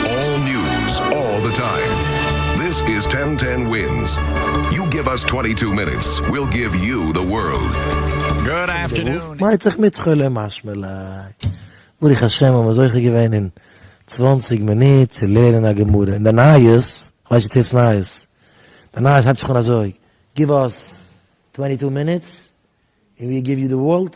אלל ניוז אלל די טיים דיס איז טען טען ווינס יו גיוו אס טווענטי טו מינוטס וויל גיוו יו די ווארלד. מייט זיך מיט שכולם מה שמלאך. ברוך השם האבן מיר זוכה געווען אין צוואנציג מינוט צו לערנען א גמרא און די נייעס, איך ווייס נישט צו עס איז נייעס, די נייעס הייבט זיך אן אזוי, גיוו אס טווענטי טו מינוטס און וויל גיוו יו די ווארלד.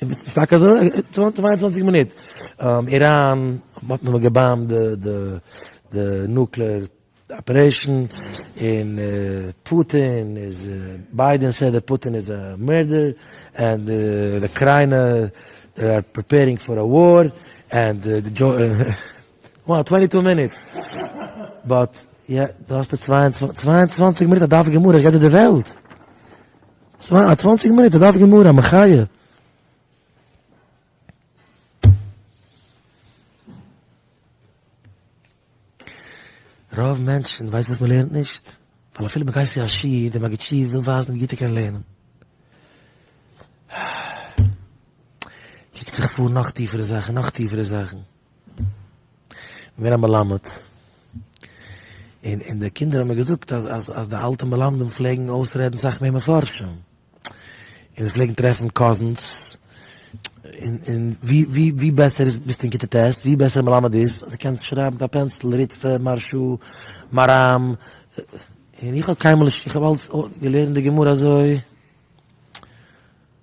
ס'איז טאקע אזוי? צוויי און צוואנציג מינוט, איראן האט נאכאמאל געבאמבט די נוקלעאר אפערעישן, און פוטין איז, ביידען סעד דעט פוטין איז א מערדער, ענד די אוקריינע זיי אר פריפערינג פאר א וואר, ענד די דזשאו, וואו טווענטי טו מינוט, באט יא, דא האסטו צוויי און צוואנציג מינוט א דף גמרא איך רעדט דיר די וועלט. צוויי א צוואנציג מינוט א דף גמרא א מחיה. רוב מענטשן ווייסן וואס מען לערנט נישט, ווייל אפילו מען גייט צו א שיעור, דער מגיד שיעור וויל ווייזן ווי גוט ער קען לערנען. קוקט זיך פאר נאך טיפערע זאכן, נאך טיפערע זאכן. געווען א מלמד, און און די קינדער האבן מיר געזאגט אז אז אז די אלטע מלמדים פלעגן אויסרעדן סאך מער מפרשים, און זיי פלעגן טרעפן קאזינס, און און ווי ווי ווי בעסער איז ביסטו אין כיתה ט', ווי בעסער מלמד איז, אז דו קענסט שרייבן מיט א פענסיל ריטפע, מהר ש, מהרם, און איך האב קיינמאל נישט, איך האב אלץ געלערנט די גמרא אזוי.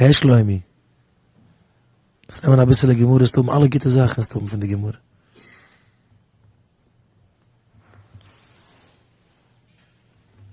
הער שלומי, דארפסט נעמען אביסעלע גמרא וועסטו האבן אלע גוטע זאכן וועסטו האבן פון די גמרא.